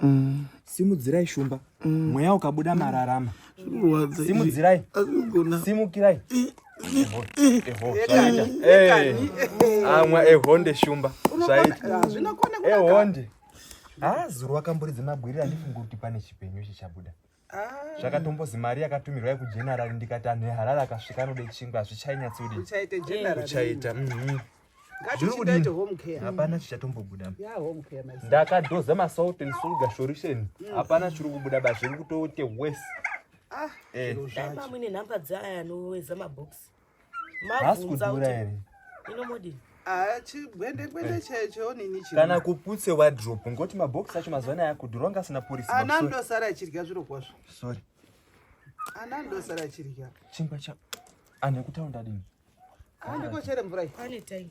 mm. simudzirai shumba mm. mweya ukabuda mararama simudzirai simukirai amwa ehonde shumba zvaita ehonde ah, zuru wakamburidza mabwirira ndifunga kuti pane chipenyu chichabuda Ah. zvakatombozi mari yakatumirwa yekugeneral ndikati anhu eharare akasvika anode chingwa hazvichainyatsoudikuchaita mhm. hapana chichatombobuda ndakadoza masalt and sugar solution mm. hapana chiri kubuda ba zviri kutoite wese ah, eh. mune nhamba dzaaya anoweza mabox kana kuputse wadrop ngoti mabox acho mazuva anaya akudhura wanga asina porisi ana andosara achidya zviro kwazvo sorry ana andosara achidya chingwa cha anhu ekutaunda dini andikochere mvura iyi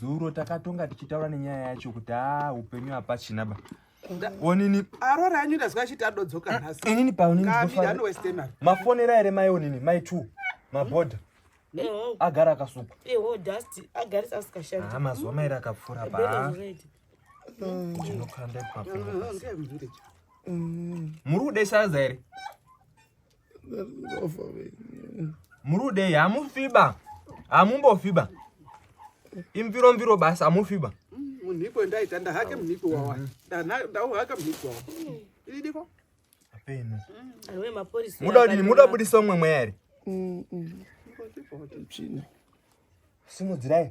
zuro takatonga tichitaura nenyaya yacho kuti a upenyu hapachina ba onini arora anyu ndazwa achiti adodzoka eh, nhasi inini paoninimafonera here mai onini mai t mabhodha eh, oh. agara akasuka eh, oh, ah, mazuva mairi akapfuura pa ndinokanda ipapo muri kuda isaza here muri kudei hamufiba hamumbofiba imviro mviro basi hamufiba munhiko ndaita ndahake munhiko wawa ndauhaka munhiko wawa ididiko apeno muda kudini muda kubudisa umwe mweya here simudzirai